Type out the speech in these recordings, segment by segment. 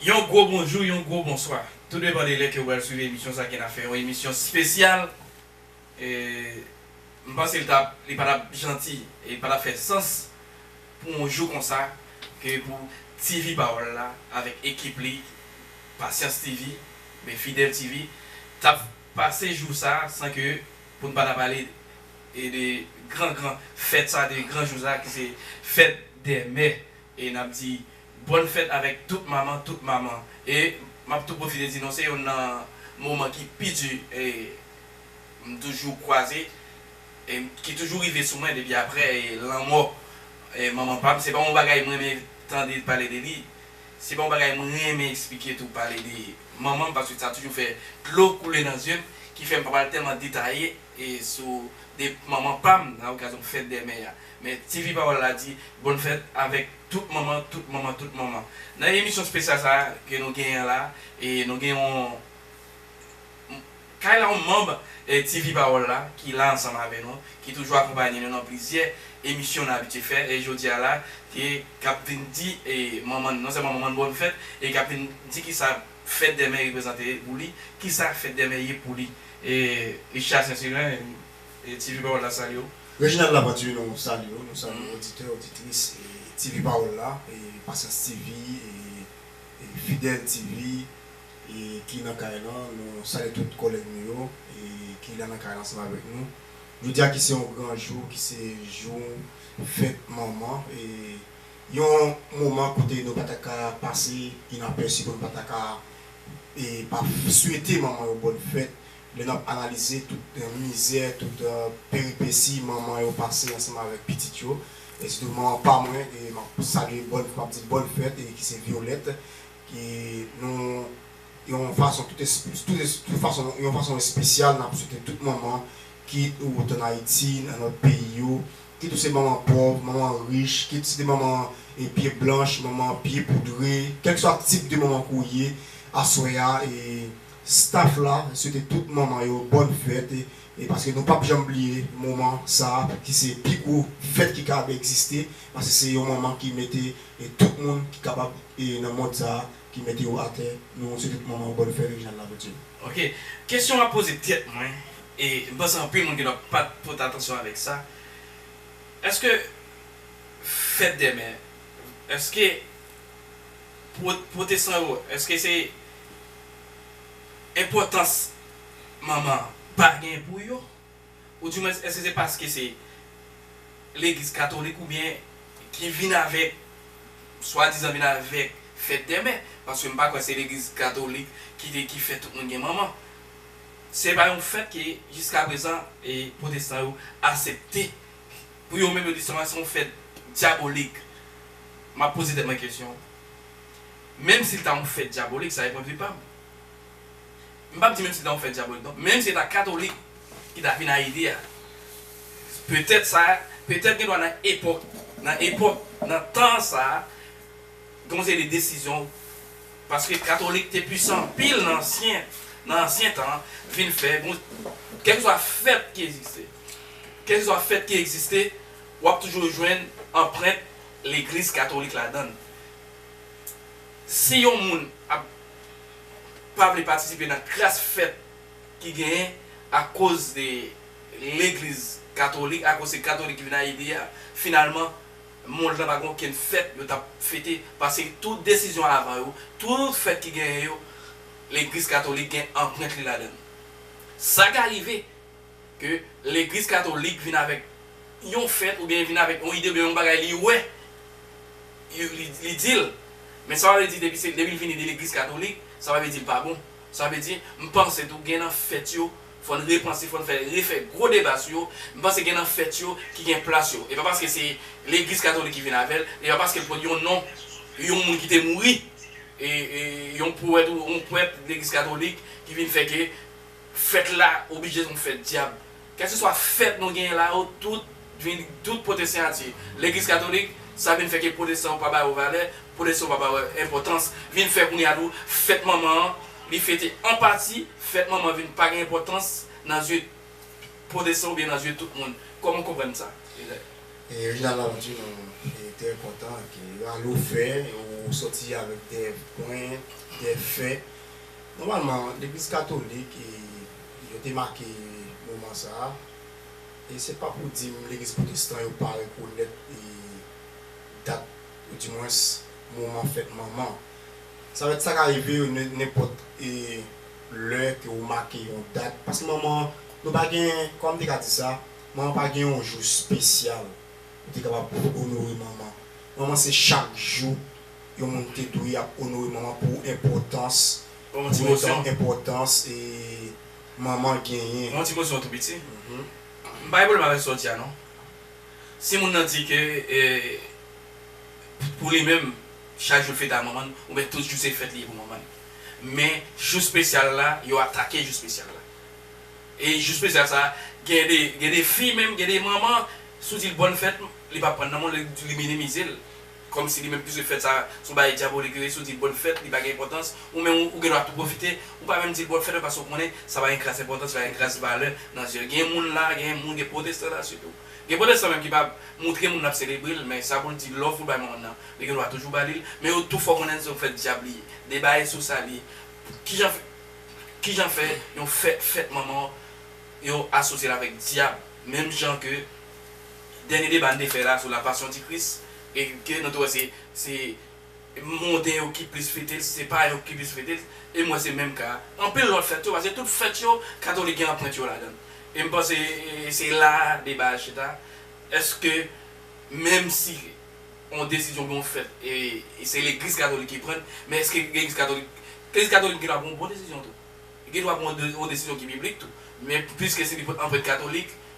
Yon gwo bonjou, yon gwo bonswa. Tou depan de lè ke ou pral swiv emisyon sa ke na fè yon emisyon spesyal. M panse li ta li pa tap janti e li pa tap fè sans pou yon jou konsa ke pou TV pawòl la avèk ekip li Pasyans TV oubyen Fidèl TV tap pase jou sa san ke pou n pa ta pale de gran gran fèt sa de gran jou sa ki se fèt dè mè. E nap di bòn fèt avèk tout manman tout manman e map tou pwofite di nou se yonn nan moman ki pi di m toujou kwaze e ki toujou rive sou mwen depi aprè lanmò manman pam se pa yon bagay m renmen tande pale de li se pa yon bagay m renmen eksplike tou pale de manman m paske sa toujou fè dlo koule nan zye m ki fè m pa pral tèlman detaye. E sou de manman pam nan okazyon fèt dè mè a. Men TV Pawòl la di bòn fèt avèk tout manman, tout manman, tout manman. Nan emisyon spesyal sa ke nou genyen la, e nou gen yon kay la yon manb TV Pawòl la ki la ansanm avè nou, ki toujou akonpanye nou nan plizyè emisyon nou abitye fè. E jodi a la, ke kap vin di manman n, non sèlman manman n bòn fèt, e kap vin di kisa Fèt dèmè reprezante pou li? Kisa fèt dèmè ye pou li? Richard Sensiren, Ti Viv Pawòl la salye w. Reginald Lapenture, Nou salye w, nou salye oditè, oditris Ti Viv Pawòl la, Pasyans TV, Fidèl TV ki nan kay lan. Nou salye tout kòlèg nou yo ki la nan kay lan ansanm avèk nou. Jodi a ki se yon gran jou, ki se jou fèt manman. Yon moman kote nou pa ta ka pase inapèsi pou nou pa ta ka pa swete manman yo bòn fèt lè n ap analize tout mizè, tout peripesi manman yo pase ansanm avèk pitit yo e sitou manman pa mwen ke m ap salye bòn m ap di l bòn fèt e ki se Violette ke nou yon fason tout tout fason yon fason espesyal n ap swete tout manman kit ou t an Ayiti nan lòt peyi yo Kit ou se manman pòv, manman rich, kit se te manman pye blanch, manman pye poudre, kèlkeswa tip de manman ke w ye, aswè a staff la swete tout manman yo bòn fèt paske nou pap janm bliye moman sa ki se pi gwo fèt ki kapab egziste paske se yon manman ki mete tout moun ki kapab nan mond sa ki mete yo atè. Nou swete tout manman yo bòn fèt Reginald Laverture. Ok kesyon map poze tèt mwen e m panse anpil moun gen dwa pat pote atansyon avèk sa eske fèt dèmè eske pou pwotesan yo eske se enpòtans manman pa gen pou yo. Oudimwens èske se paske se legliz katolik oubyen ki vin avèk swadizan vin avèk fèt dè mè? Paske m pa kwè se legliz katolik ki te ki fè tout moun gen manman. Se pa yon fèt ke jiska prezan pwotestan yo asepte. Pou yo menm yo di se yon fèt dyabolik. M ap poze tèt mwen kesyon, menm si l ta yon fèt dyabolik sa e pwendvi pa m. M pap di menm si ta yon fè dyabolik non, menm si se ta katolik ki ta vin Ayiti a, petèt sa, petèt gen dwa nan epòk, nan epòk, nan tan sa, gen yon seri de desizyon, paske katolik te pwisan anpil nan ansyen, nan ansyen tan, vin fè, kèlkeswa fèt ki egziste, kèlkeswa fèt ki egziste, w ap toujou jwenn anprent legliz katolik ladan l. Si yon moun ap. pa vle patisipe nan kras fèt ki genyen akoz de legliz katolik, akoz se katolik ki vin Ayiti a, finalman mond lan pa gen okenn fèt yo t ap fete paske tout desizyon avan yo, tout fèt ki genyen yo legliz katolik gen anprent li ladan l. Sa ka rive. ke legliz katolik vin avèk yon fèt oubyen vin avèk yon ide oubyen yon bagay li wè li dil men sa pa vle di depi se depi li vini de legliz katolik sa pa vle dil pa bon sa vle di m panse tou gen nan fèt yo fòn repanse fòn fè refè gwo deba sou yo m panse gen nan fèt yo ki gen plas yo e pa paske se legliz katolik ki vin avèl e pa paske l pot yon non yon moun ki te mouri e yon powèt ou yon pwèt legliz katolik ki vin fè ke. Fèt la oblije yon fèt dyab. Kèlkeswa fèt nou genyen la yo, tout vin tout pote siyati legliz katolik, sa vin fè ke pwotestan yo pa ba yo valè, pwotestan yo pa ba yo enpòtans. Vin fè kounye a tou fèt manman an, li fete an pati, fèt manman an vin pa gen enpòtans nan zye pwotestan oubyen nan zye tout moun. Kòman w konprann sa, Reginald? Reginald ap di nou li trè kontan ke Rallo fè ou sòti avèk de pwen, de fè. Nòmalman, legliz katolik yo te make moman sa a, e se pa pou di m legliz pwotestan yo pa rekonèt dat oudimwens moman fèt manman. Sa vle di sa ka rive yo nenpòt lè ke ou make yon dat, paske manman nou pa gen, kòman m te ka di sa, manman pa gen yon jou spesyal ou te kapab onore manman. Manman se chak jou. yon moun te dwe ap onore manman pou enpòtans pou etan enpòtans manman genyen. Yon ti kosyon tou piti. M pa gen pwoblèm avèk sa w di a non. Si moun nan di ke pou li menm chak jou l fete a manman l oubyen tout jou se fèt li ye pou manman l. Men jou spesyal la yo atake jou spesyal la. E jou spesyal sa gen de gen de fi menm gen de manman si w di l bòn fèt li p ap pran nan men w li minimize l. Kòmsi li menm pwiske fèt sa se yon bagay dyabolik yo ye si w di bòn fèt li pa gen enpòtans ou menm ou gen dwa tou pwofite ou pa menm di l bòn fèt paske w konnen sa pa gen kras enpòtans li pa gen kras valè nan zye l gen moun la gen moun gen pwotestan la sitou gen pwotestan menm ki pa moutre moun l ap selebre l men sa pou l di lòv pou l bay manman nan li gen dwa toujou ba li l men yo tou fè w konnen se yon fèt dyab li ye deba e sou sa li ye kijan fè kijan fè yon fèt fèt manman w yo asosye l avèk dyab menm jan ke dènye deba n te fè la sou la passion di Kris e ke nou te wè se se monden yo ki plis fete l, se payen yo ki plis fete l e m wè se menm ka anpil lòt fèt yo paske tout fèt yo katolik gen anprent yo ladan l e m panse se la a deba a chita èske menm si yon desizyon oubyen yon fèt e se legliz katolik ki pran l men èske legliz katolik legliz katolik gen dwa pran yon bon desizyon tou gen dwa pran yon desizyon ki biblik tou men piske se li pran anprent katolik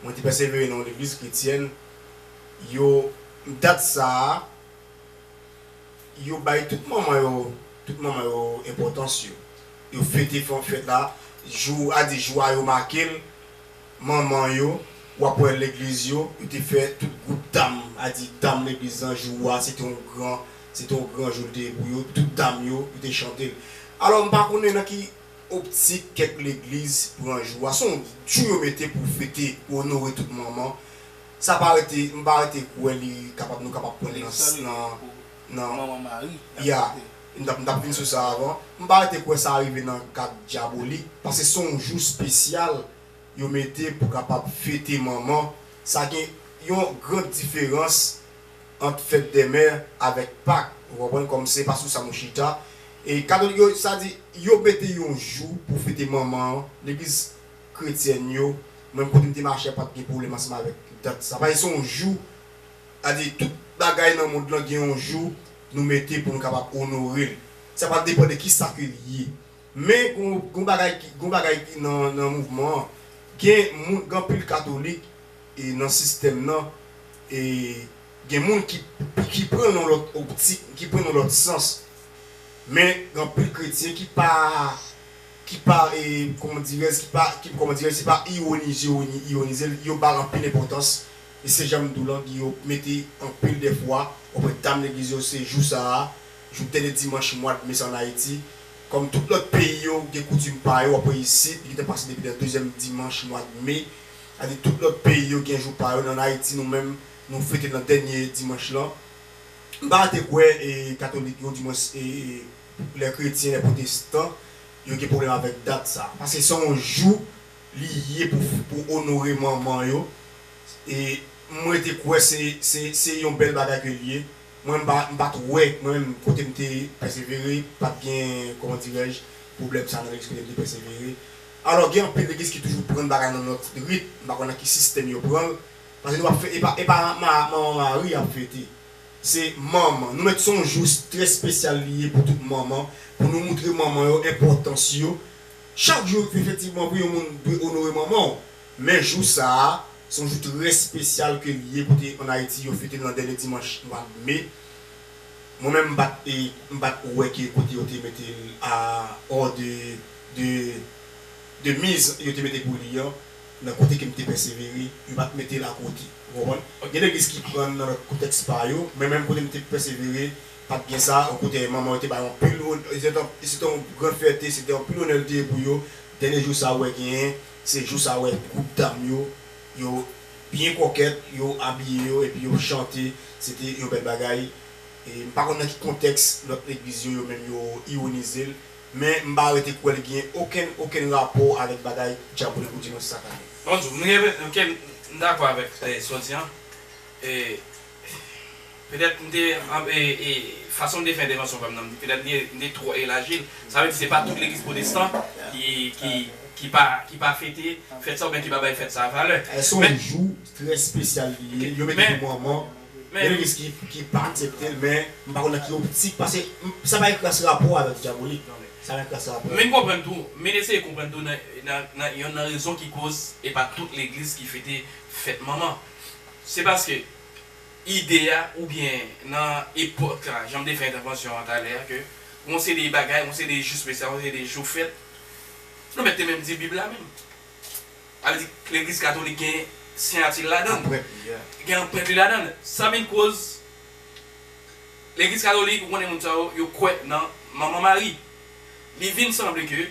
Mwen te pèsevere nan yon legliz kretyèn, yo, dat sa a, yo bay tout manman yo, tout manman yo enpòtans yo. Yo fete fè yon fèt la, jou a di jou a yo make l, manman yo, w ap wè legliz yo, yo te fè tout gwoup dam, a di dam legliz lan jou a se te yon gran, se te yon gran jou l te ye pou yo, tout dam yo, yo te chante l. Alò m pa konnen nan ki Optik kèk legliz pran jou a se yon jou yo mete pou fete pou onore tout manman sa pa rete m pa rete kwè li kapab nou kapab pran nan nan ya m tap m tap vin sou sa avan m pa rete kwè sa rive nan kad dyabolik paske se yon jou spesyal yo mete pou kapab fete manman sa gen yon gran diferans ant fèt dè mè avèk pak ou konprann kòm se pa sou sa nou chita e katolik yo sa di yo mete yon jou pou fete manman an legliz kretyèn yo mwen kote m te mache a pat gen pwoblèm ansanm avèk dat sa paske se yon jou sa di tout bagay nan mond lan gen yon jou nou mete pou nou kapab onore l sa pral depan de kisa ke l ye. Men gon bagay ki gon bagay ki nan nan mouvman an gen moun gen anpil katolik e nan sistèm nan e gen moun ki ki pran l yon lòt optik ki pran l yon lòt sans men gen anpil kretyen ki pa ki pa e kòman dirèz ki pa ki kòman dirèz se pa iwonize yo iwonize l yo ba l anpil enpòtans e se jan m di w lan yo mete anpil dèfwa ou wè dam legliz yo se jou sa a jou dènye dimanch mwad me sa an Ayiti. Kòm tout lòt peyi yo gen koutim pa yo, wap wè isit, li gentan pase depi nan dezyèm dimanch mwad me, sa di tout lòt peyi yo gen jou pa yo, nan Ayiti nou menm nou fete l nan dènye dimanch lan. M pa rete kwè e katolik yo dimwens e lè kretyen, lè pwotestan yo gen pwoblèm avèk dat sa. Paske se yon jou li ye pou pou onore manman yo e m rete kwè se se se yon bèl bagay ke l ye. Mwen mpa mpat wè mwen menm kotem te pèsevere pat gen kòman dirèj pwoblèm sa nan legliz kotem te pèsevere alò gen anpil legliz ki toujou prann bagay nan lòt rit mpa konn nan ki sistèm yo pranl pase nou pap fè epa epa manman mari yap fete se manman nou mèt son jou trè spesyal li ye pou tout manman pou nou moutre manman yo enpòtans yo chak jou efektivman wi yon moun dwe onore manmanw. Men jou sa a, se yon jou trè spesyal ke li ye kote an Ayiti yo fete l nan dènye dimanch mwa me. Mwen menm m pa t e, m pa t wè ke kote yo te mete l a or de, de, de miz yo te mete pou li an, nan kote ke m te pèsevere, yo pa t mete l a kote. Ou konprann? Gen legliz ki pran l nan lòt kontèks pa yo, men menm kote m te pèsevere, pa t gen sa. O kontrè, manman yo te bay anpil onè, se te yon gran fyète, se te anpil onè l te ye pou yo, dènye jou sa a ou wè genyen Se jou sa wè gwoup dam yo, yo byen kòkèt, yo abiye yo epi yo chante, se te yon bèl bagay. M pa konn nan ki kontèks lòt legliz yo yo menm yo iwonize l, men m pa rete kwè li genyen okenn okenn rapò avèk bagay Djab Vre Pou Dimanch sa kanmenm. Bonjou, m gen, ok m dakò avèk sa w di an, Petèt m te fason m te fè entèvansyon pa m nan, petèt m te twò elaji l. Sa vle di se pa tout legliz pwotestan ki pa fete fèt sa oubyen ki pa bay fèt sa valè. Eske se yon jou trè spesyal li ye, yo mete pou manman, gen legliz ki pa aksepte l men m pa konn nan ki optik pase sa pa gen kras rapò avèk dyabolik, sa gen kras rapò. Vin konprann tou, vin eseye konprann tou nan yonn nan rezon ki koz e pa tout legliz ki fete fèt manman. Se paske ide a oubyen nan epòk la, jan m te fè entèvansyon an talè a, ke yon seri de bagay, yon seri de jou spesyal, yon seri de jou fèt, nou mèt te menm di Bib la menm. Sa vle di legliz katolik gen siyati l ladan l. Anprent li a. Gen anprent li ladan l. Sa vin koz legliz katolik, ou konnen moun sa yo, yo kwè nan Manman Mari. Li vin sanble ke.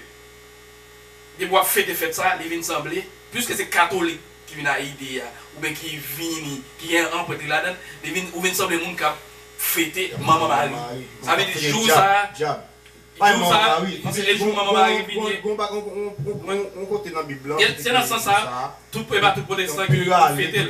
depi wap fete fèt sa li vin sanble puiske se katolik ki vin a ide a oubyen ki vini ki gen anprent li ladann li vin ou vin sanble moun kap fete manman mari sa vle di jou sa jou sa paske e jou manman mari pi byen se nan sans sa tout e pa tout pwotestan ki fetel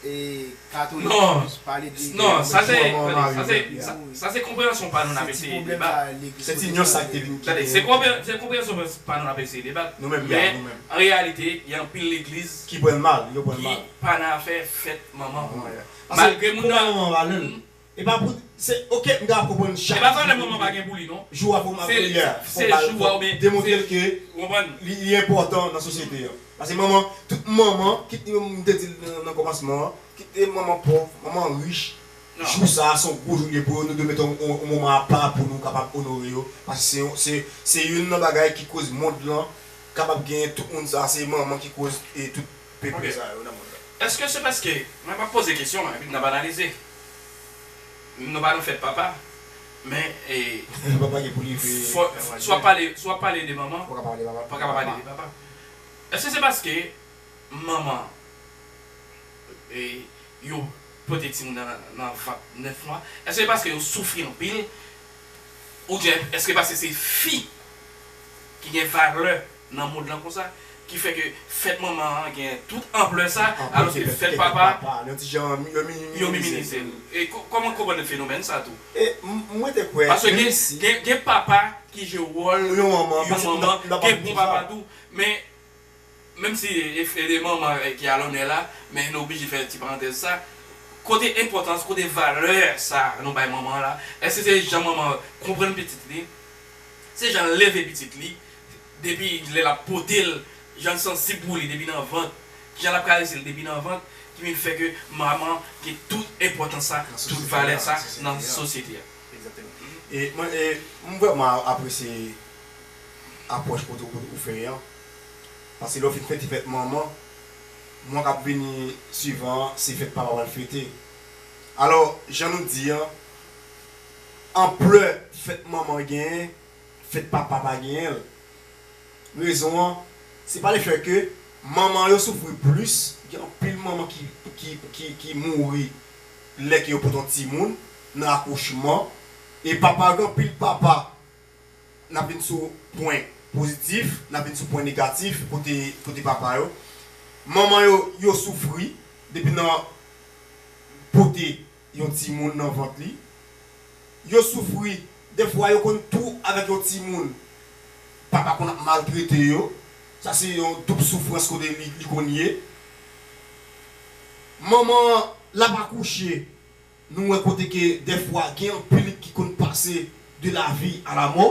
Non, non, sa se, sa se konpreyansyon pa nou n ap eseye debat. Se ti nyans sa ki te vin ki te. Se konpreyansyon pa nou n ap eseye debat. Nou menm, ya, nou menm. Men, an reyalite, gen anpil legliz. Ki pran l mal, yo pran l mal. Ki pa nan afè fèt manman. Malgre moun nan. Paske, pou manman an vale l. Epa pou se ok m ta ap konprann chak jou pou li vini jou a fok manman kouri a fok bal fok demontrel ke li li enpòtan nan sosyete an pase manman tout manman kit li menm m te dil nan kòmansman an kit li manman pòv manman rich jou sa a se yon gwo jou li ye pou yo nou dwe mete yon moman apa pou nou kapab onore yo pase se yon se se youn nan bagay ki koz mond lan kapab gen tout moun sa a se manman ki koz e tout peple sa yo nan mond lan. Eske se paske mwen m ap poze kesyon epi n ap analize. Nou pa nan fèt papa men si w ap pale de manman ou pa ka pa pale de papa Èske se paske manman yo pote timoun nan nan vant 9 mwa èske se paske yo soufri anpil oubyen èske paske se fi ki gen valè nan mond lan konsa ki fè ke fèt manman an gen tout anplè sa alòske fèt papa yon ti jan yo minimize l e kòman konprann fenomèn sa tou paske gen papa ki jwe wòl yon manman gen bon papa tou men menm si e manman ki alònè la men nou oblije fè ti parantèz sa kote enpòtans kote valè sa nou bay manman la èske se jan manman konprann pitit li se jan l leve pitit li depi lè lap potel janl sansib pou li depi nan vant kijan lap karesel depi nan vant ki vin fè ke manman gen tout enpòtans sa tout valè sa nan sosyete a. Ekzakteman e mwen m vrèman apresye apwòch kote ou fè an paske lè ou fin fete fèt manman mwa kap vini swivan an se fèt papa pral fete alò jan nou di an anplè fèt manman genyen. Fèt papa pa genyen l. Rezon an, se pa le fè ke manman yo soufri plis, gen anpil manman ki mouri lè ke yo pot yon timoun nan akouchman, e papa yo gen anpil papa, n ap vin sou pwen pozitif, n ap vin sou pwen negatif kote papa yo, manman yo, yo soufri depi nan pote. yon timoun nan vant li. Yo soufri, defwa yo konn tou avèk yon timoun papa konn ap maltrete yo. Sa se yon doub soufrans kote li konn ye. Manman an l ap akouche, nou wè kote ke defwa gen anpil ki konn pase de lavi a lamò.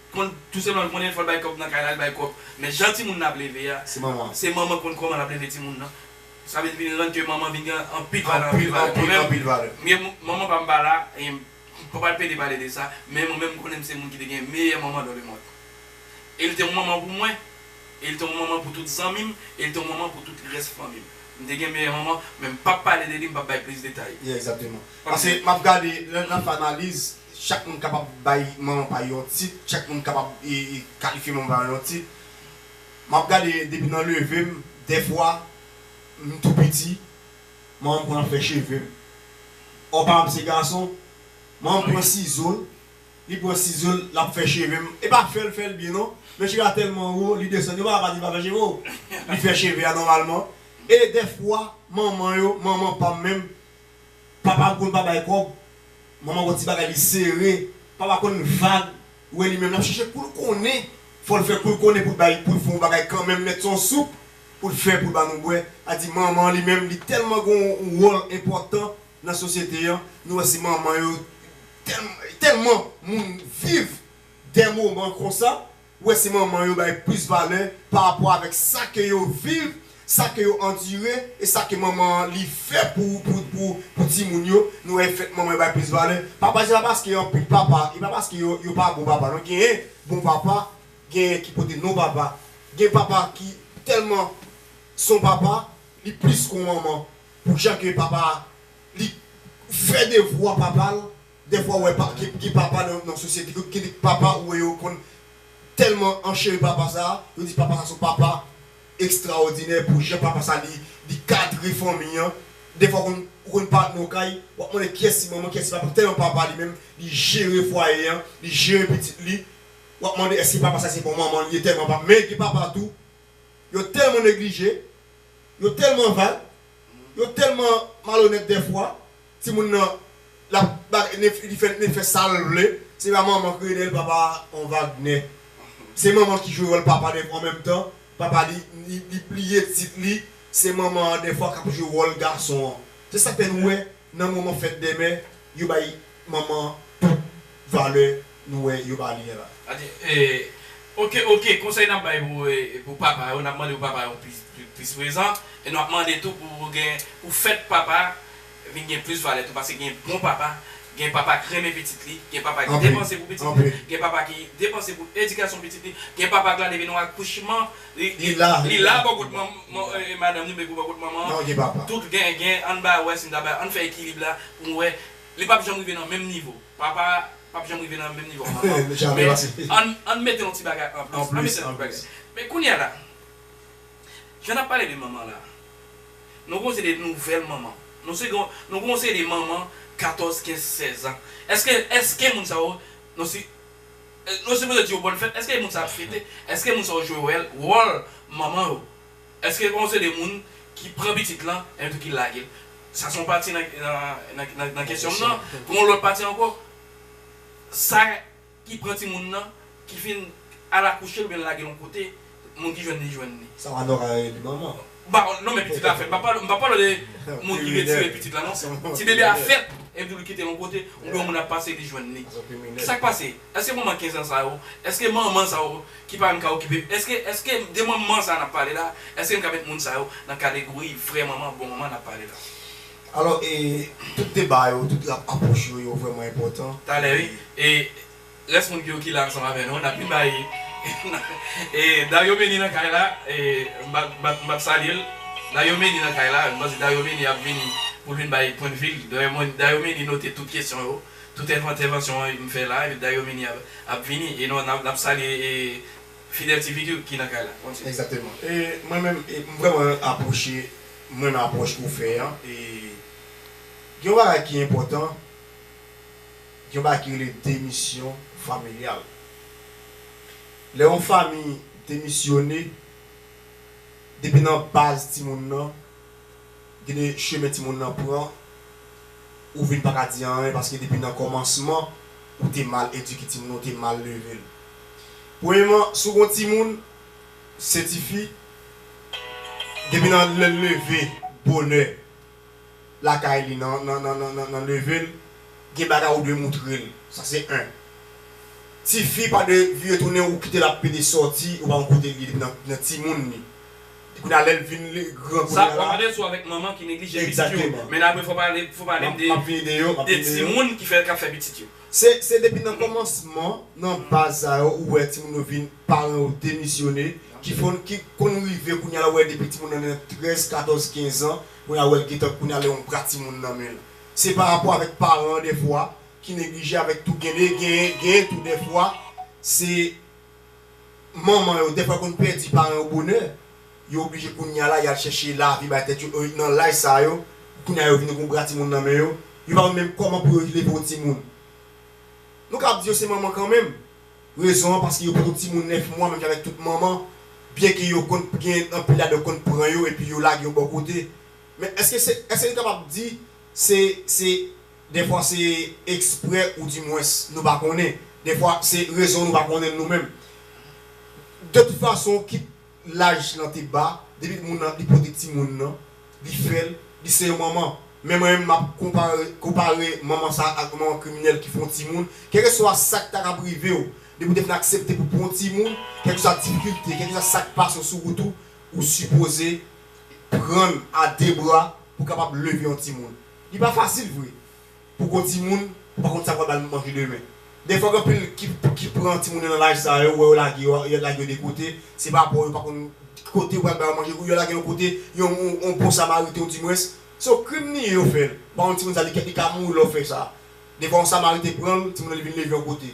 Konn tou se manman ki konn leve fòl bay kòb nan kay la li bay kòb men jan timoun nan ap leve a se manman konn kòman lap leve timoun nan sa vin vin rann ke manman vin gen anpil valè anpil valè mwen menm anpil valè mwen menm manman pam pa la mpa pral pede pale de sa men mwen menm konnen mse moun ki te gen meyè manman dan le mond el te yon manman pou mwen el te yon manman pou tout zanmim el te yon manman pou tout rès fanmim mte gen meyè manman men mpap pale de li mpap bay plis detay paske map gade lè nap fè analiz Chak moun kapab bay manman pay yon tit, chak moun kapab kalifye manman pay yon tit. M ap gade depi nan leve m, dèfwa m tou piti, manman m pran fè cheve m. Ò pa m se gason, manman m pran sizo l, li pran sizo l, l ap fè cheve m. E pa fè l fè l byen non, men cheve a tèlman wo, li desann. Yo pa ka pa di l pa fè cheve w. Li fè cheve a nòmalman. E dèfwa manman yo, manman pa m menm, papa konn pa bay kòb, manman wè ti bagay li sere, papa konn vag, ou wè li menm lap chèche poul konnen, fòl fè koul konnen poul bay poul fè yon bagay kanmenm nèt son soup poul fè poul ba nou bwè, sa di manman li menm li tèlman gon yon wòl enpòtan nan sosyete an, nou wè se manman yo tèlman moun viv dè moman konsa Ou wè se manman yo bay plis valè pa rapò avèk sa ke yo viv, sa ke yo andire e sa ke manman an li fè pou pou timoun yo, nou wè fèt manman yo bay plis valè. Papa se pa paske anpil papa e pa paske yo yo pa bon papa non genyen bon papa genyen ki pote non papa gen papa ki tèlman son papa li plis ke yon manman pou jan ke papa li fè devwa papa l. Dèfwa ou wè pa gen papa nan sosyete gen de papa ou wè yo konn tèlman ancheri papa sa a yo di papa sa son papa ekstraòdinè pou jan papa sa li li kadre fanmi an dèfwa konn ou konn pa nan yon kay wap mande kiyès ki manman kiyès ki papa tèlman papa li menm li jere fwaye an li jere pitit li wap mande èske papa sa se bon manman li ye tèlman papa men gen papa tou yo tèlman neglije yo tèlman vag Yo telman malonèt dèfwa timoun nan lap li fè sal vle se pa manman kriye dèyèl papa an Wagner se manman ki jwe wòl papa dèfwa an menm tan papa li li bliye tit li se manman an dèfwa kap jwe wòl gason an se sak fè nou wè nan moman fèt dèmen yo bay Manman pèp valè nou wè yo ba li an la. Ok ok konsèy nap bay pou papa yo nap mande pou papa yo plis prezan e nou ap mande tou pou gen pou fèt papa vin gen plis valè tou paske gen bon papa gen papa k renmen pitit li gen papa ki depanse pou pitit li gen papa ki depanse pou edikasyon pitit li gen papa k la depi nan akouchman li la bò kot madanm li oubyen bò kot manman an tout gen ann ba wè si nou ta bay ann fè ekilib la pou nou wè Li pap janm rive nan menm nivo papa a pap janm rive nan menm nivo manman an Jamè pase Men ann ann mete yon ti bagay an plis An mete yon ti bagay Men kounye a la Jan nap pale de manman la Nou gen yon seri de nouvèl manman Nou se gen Nou gen yon seri de manman 14 15 16 ans Eske eske moun sa yo Nou si Nou sipoze di yo bòn fèt Eske moun sa ap fete Eske moun sa yo jwe wèl wòl manman yo Eske on se de moun ki pran pitit lan epi tou ki lage l? Sa se yon pati nan nan kesyon m nan. Gen yon lòt pati ankò, sa ki pran timoun nan, ki fin al akouche l oubyen lage l yon kote, moun ki jwenn li jwenn li. Sa w a nòmal rele li manman? M pa non men pitit la fèt. M pap pale m pap pale w de moun ki retire pitit la non. Ti bebe a fèt epi tou li kite l yon kote oubyen yon moun ap pase li jwenn li. Sa k pase? Eske manman 15 ans sa yo, eske manman sa yo ki pa menm ka okipe, eske, eske de manman sa nap pale la, eske nou ka met moun sa yo nan kadegori vrè manman, bon manman nap pale la? Alò e tout deba yo, tout lap apwoch yo, yo vrèman enpòtan. Talè wi. E rès moun ki yo ki la ansanm avè nou an nap vin bay e Dario Meni nan kay la e m pa m pa m pap salye l. Dario Meni nan kay la, m panse Dario Meni ap vini pou l vin bay pwendvi l. Dario Meni note tout kesyon yo. Tout entèvansyon m fè la epi Dario Mini ap vini e nou nap salye Fidel TV ki nan kay la. Kontinye. Exactement. E mwen menm m vrèman apwoche m renmen apwòch ou fè an e gen yon bagay ki enpòtan gen yon bagay ki rele demisyon familyal lè yon fami demisyone depi nan baz timoun nan Gade chemen timoun nan pran ou vin paka di anyen paske depi nan kòmansman ou te mal edike timoun nan ou te mal level. Premyeman si w gon timoun se tifi depi nan lèl leve bonè lakay li nan level gen bagay ou dwe moutrel sa se 1 tifi pa dwe vire tounen ou kitel ap pede sòti ou pa konn kotel ye depi nan timoun li. Epi kounya lèl vin li gran kounya la. Sa wap ade sou avèk manman ki neglije pitit yo. Men apre fò palem de de timoun ki fè kap fè pitit yo. Se depi nan kòmansman nan baz sa yo ou wè timoun yo vin paran yo demisyone ki fon ki konn rive kounya la ou wè depi timoun nan nan 13 14 15 ans kounya wèl gentan kounya lè yon bra timoun nan menl se pa rapò avèk paran an dèfwa ki neglije avèk tou gen de gen gen tou dèfwa se manman yo dèfwa konn pèdi paran yo bonè, yo oblije kounya la yal chèche lavi bay tèt yo e nan laj sa yo kounya yo vini gon bra timoun nan men yo, yo pa konn menm kòman pou yo leve yon timoun. Nou kab di yo se manman kanmenm, rezon an paske yo pot yon timoun 9 mwa menm jan avèk tout manman, byen ke yo konn gen anpil ladan yo konn pran yo epi yo lage yo bò kote. Men èske se èske nou kapab di se se. Dèfwa se eksprè ou di mwens nou pa konnen. Dèfwa se rezon nou pa konnen l nou menm. De tout fason kit laj lan te ba, depi moun lan li pote timoun lan, li fè l, li se yon manman. Men mwen menm m ap konpare manman sa a ak yon manman kriminèl ki fè yon timoun. Kèlkeswa sa k ta kab rive w, depi w te fin aksepte pou w pran yon timoun, kèlkeswa difikilte, kèlkeswa sa k pase w sou wout ou, ou sipoze pran l a de bra pou w kapab leve yon timoun. Li pa fasil vre pou gwo timoun ou pa konn sa pral ba l manje demen. Dèyè fòk anpil ki pran timoun yo nan laj sa yo wè yo lage yo yo lage yo de kote, se pa pa w yo pa konn ki kote ou pral ba yo manje ou yo lage yon kote yon yon bon samariten ou di mwens se yon krim li ye yo fè l ou pa konn timoun sa li li ka mouri lè w fè sa. Defwa yon samariten pran l timoun nan li vin leve yon kote.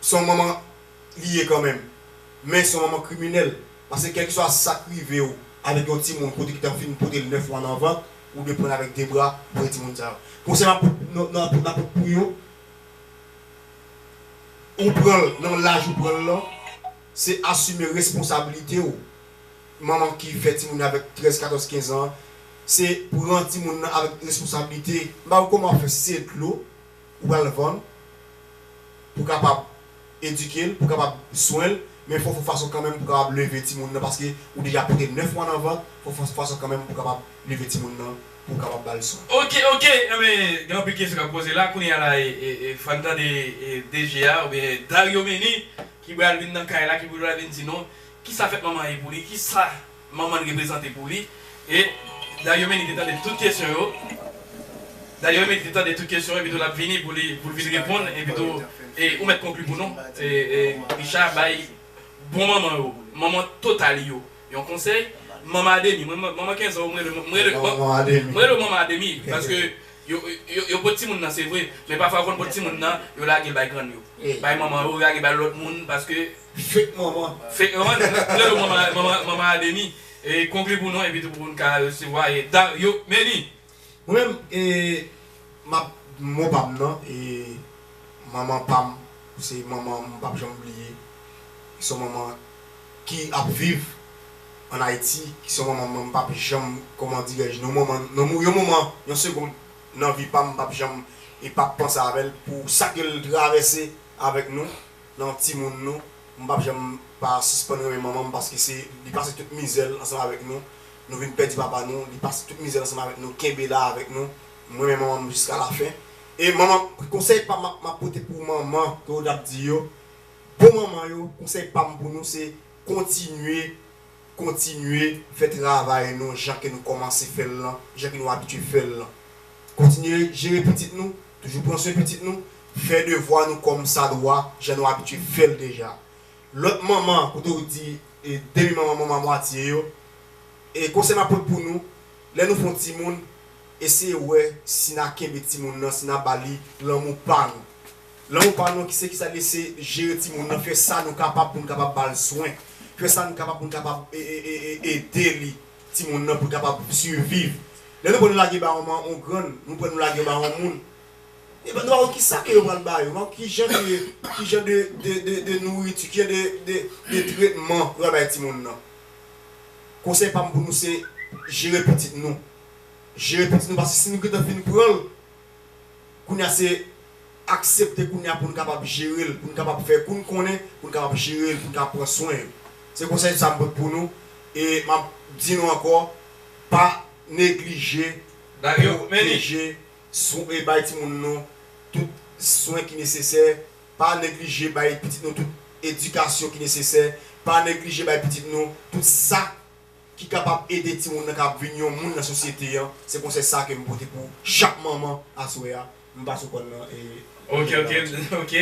Se yon manman li ye kanmenm men se yon manman kriminèl paske kèlkeswa sa k rive w avèk yon timoun kote ki t ap fin pote l 9 mwa nan vant Ou dwe pran l avèk de bra pou fè timoun sa yo. Konsèy m ap pot pou yo, ou pran l nan laj ou pran l lan, se asime responsabilite w. Manman ki fè timoun yo avèk 13, 14, 15 an, se pran timoun nan avèk responsabilite. M pa wè kòman w ap fè si se dlo. Ou pral vann pou kapab edike l, pou kapab swen l, men fò w fon fason kanmenm pou kapab leve timoun nan paske ou deja pote 9 mwa nan vant, fò w fon fason kanmenm pou kapab leve timoun nan pou w kapab ba l swen. Ok ok enben gen anpil kesyon kap poze la kounya la fòn tande DG a oubyen Dario Meny ki bral vin nan kay la ki pou bral vin di nou kisa fèt manman ye pou li kisa Manman l reprezante pou li. E Dario Meline te tande tout kesyon yo. Dario Meline te tande tout kesyon yo epitou l ap vini pou li pou l vin reponn epitou e ou mèt konkli pou nou e e Richard bay bon manman yo manman total yo yon konsèy manman a demi mwen manman kenzan ou m rele m rele bon m rele ou manman a demi paske yo yo yo pot timoun nan se vre men pafwa yo konn pot timoun nan yo lage l bay grann yo bay manman yo lage bay lòt moun paske Fake manman. Fake manman nou rele yo manman manman manman ademi e konkli pou nou epitou pou n ka resevwa e dario meni. Mwen menm e map mo pam nan e manman pam se manman m pap janm bliye se yon manman ki ap viv an ayiti ki se yon manman mwen m pap janm kòman dirè je nou yon manman nan yon moman yon segond nan vi pam m pap janm e pap panse avèl pou sa ke l travèse avèk nou. Nan timoun nou, m pap janm pa sispann renmen manman m paske se li pase tout mizè l ansanm avèk nou, nou vin pèdi papa nou, li pase tout mizè l ansanm avèk nou kenbe la avèk nou, m renmen manman m jiska la fen e manman m. Konsèy pam map map pote pou manman ke ou tap di yo bon manman yo konsèy pam pou nou se kontinye. Kontinye fè travay nou jan ke nou kòmanse fè l lan, jan ke nou abitye fè l lan. Kontinye jere pitit nou, toujou pran swen pitit nou, fè devwa nou kòm sa dwa, jan nou abitye fè l deja. Lòt manman, kote ou di demi manman, manman a mwatye yo, e konsèy m ap pot pou nou, lè nou fè yon timoun, eseye wè si na kenbe timoun nan, si na ba li lanmou pa nou. Lan ou pa nou ki se ki sa li se jere ti moun nan fè sa nou kapab pou nou kapab ba l swen fè sa nou kapab pou nou kapab ede li ti moun nan pou l kapab siviv lè nou pran nou lage ba yon man yon grann nou pran nou lage yo ba yon moun e nou pa wè ki sa ke yo pral ba yo nou pa wè ki jan de ki jan de de de nouriti ki jan de de de tretman yo pral bay ti moun nan konsèy pa m pou nou se jere pitit nou jere pitit nou paske si nou gentan fin pran l. Kounya se aksepte kounya pou n kapab jere l, pou n kapab fè kou n konnen, pou n kapab jere l, pou n kapab pran swen l. Se konsèy sa m pot pou nou e m ap di nou ankò pa neglije pwoteje e bay timoun nou tout swen ki nesesè, pa neglije bay pitit nou tout edikasyon ki nesesè, pa neglije bay pitit nou tout sa. ki kapab ede timoun nan kapab vin yon moun nan sosyete an, se konsèy sa kem pote pou chak manman aswè a, m pa sou kòn nan e. Ok ok ok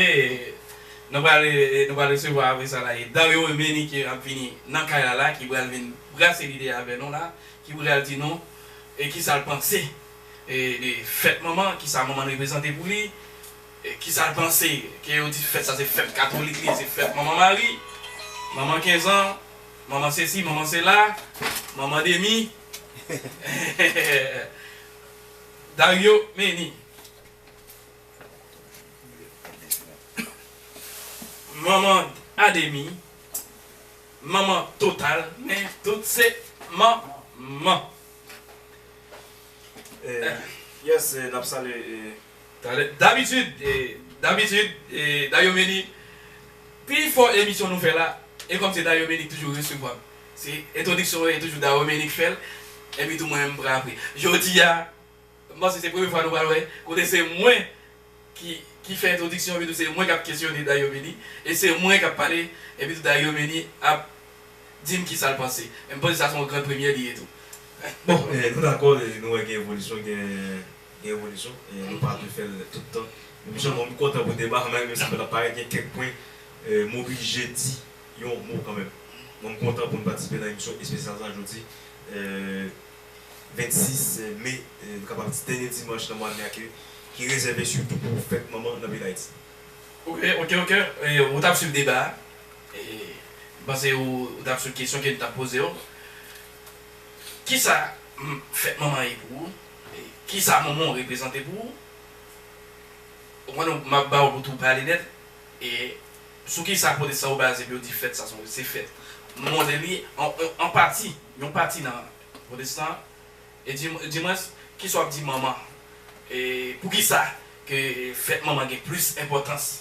nou pral nou pral resevwa apre sa la e Dario e Meni ki ap vini nan kay la la ki pral vin brase lide avè nou la ki pral di nou e kisa l panse e de fèt manman kisa manman n reprezante pou li e kisa l panse ke yo di fèt sa se fèt katolik li ye se fèt manman mari manman kenzan. Manman sesi, manman sela, manman demi. Dario Meni. Manman a demi, manman total, men tout se manman. Yes, nap salye. Talè Dabitid Dabitid Dayomeni Pi fò emisyon nou fè la E kòm se Dayomeni ki toujou resevwa m Se entwodiksyon mwen e toujou Dayomeni ki fè l Epi tou mwen menm m pran apre Jodi a m panse se premye fwa nou pral wè Kote se mwen ki ki fè entwodiksyon epi tou se mwen k ap kesyone Dayomeni E se mwen k ap pale epi tou Dayomeni ap di m kisa l panse E m panse sa se yon gran premyè li ye tou Bon nou dakò Nou wè gen evolisyon gen gen evolisyon e nou pa dwe fè l tout tan. Men m sèlman m kontan pou deba a malgre menm si pa t ap parèt gen kèk pwen m oblije di yon mo kanmenm. Mwen m kontan pou n patisipe nan emisyon espesyal sa jodi 26 me nou kapab di dènye dimanch nan mwa me a ke ki rezève sitou pou fèt manman nan peyi Dayiti. Ok ok ok ou t ap swiv deba a e m panse ou t ap swiv kesyon ke n t ap poze w. Kisa fèt manman ye pou ou? Kisa Monmon reprezante pou ou? Ou konprann ou? M ap ba ou pou tou pale nèt. E sou kisa pwotestan yo baze pou yo di fèt sa son se fèt? M montre li an pati, yon pati nan pwotestan an. E di dimwens, kisa w ap di manman? E poukisa ke fèt manman gen plis enpòtans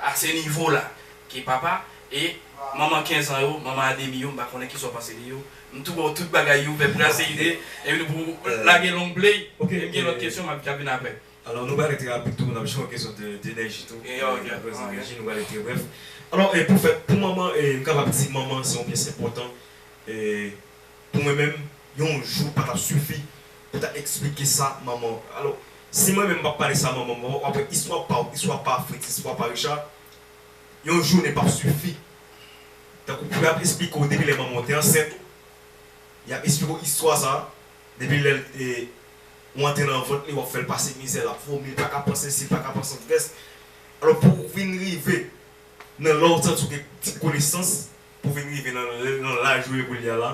a se nivo la ke papa e manman 15 ans yo, manman Ademi yo, m pa konnen kisa w panse de yo, m tou wè w tout bagay yo fè brase ide epi nou pou lage long play e m gen lòt kesyon m ap vin aprè. Alò nou pral rete rapid tou, n ap jwenn yon kesyon de enèji tou, apre enèji nou pral rete brèf. Alò pou fèt, pou manman, m kapab di manman se yon pyès enpòtan e. Pou mwen menm, yon jou pa t ap sifi pou ta eksplike sa manman. Alò, si mwen menm m pa pale sa manman m, w ap wè istwa pa w, istwa pa Fritz, istwa pa Richard, yon jounen p ap sifi. Tankou pou y ap esplike w depi lè manman w te ansent ou, y ap esplike w istwa sa a depi lè l te, ou antre nan vant li, w ap fè l pase mizè, l ap vomi, l pa ka pran sesi, l pa ka pran santrès. Alò, pou w vin rive nan lè w santi w gen ti konesans, pou vin rive nan nan laj ou ye koulye a la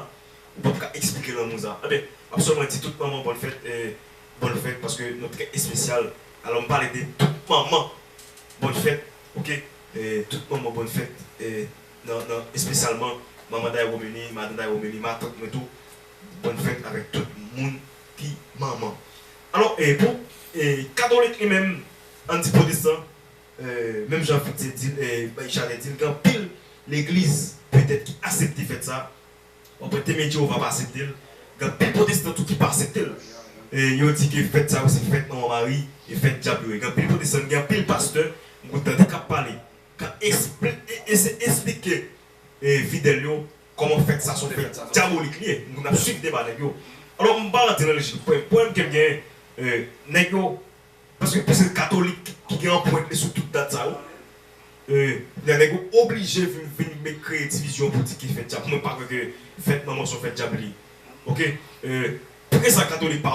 ou pap ka eksplike lanmou sa enben map sèlman di tout manman bòn fèt e bòn fèt paske nou trè espesyal alò m pale de tout manman bòn fèt ok e tout manman bòn fèt e nan nan espesyalman manman Dayromeni madan Dayromeni matant mwen tou bòn fèt avèk tout moun ki manman alò e pou e katolik li menm an n di pwotestan. Menm jan Fritze di l, bay chalè di l, gen anpil legliz petèt ki asepte fèt sa a. W'ap wè Temwen Jewova pa asepte l. Gen anpil pwotestan tou ki pa asepte l. Yo di ke fèt sa yo se fèt manman Mari e fèt dyab yo ye. Gen anpil pwotestan, gen anpil pastè m konn tande k'ap pale, k'ap esplike fidèl yo kòman fèt sa son fèt dyabolik li ye. M konn ap swiv deba nèg yo. Alò m pa rantre nan lejik. Pwoblèm ke m genyen, nèg yo. Paske plis se katolik ki gen anprent li sou tout dat sa yo. E kounye a nèg yo oblije vin vin met kreye divizyon pou di ki fèt djab. Mwen pa kwè ke fèt manman son fèt djab li. Ok. E poukisa katolik pa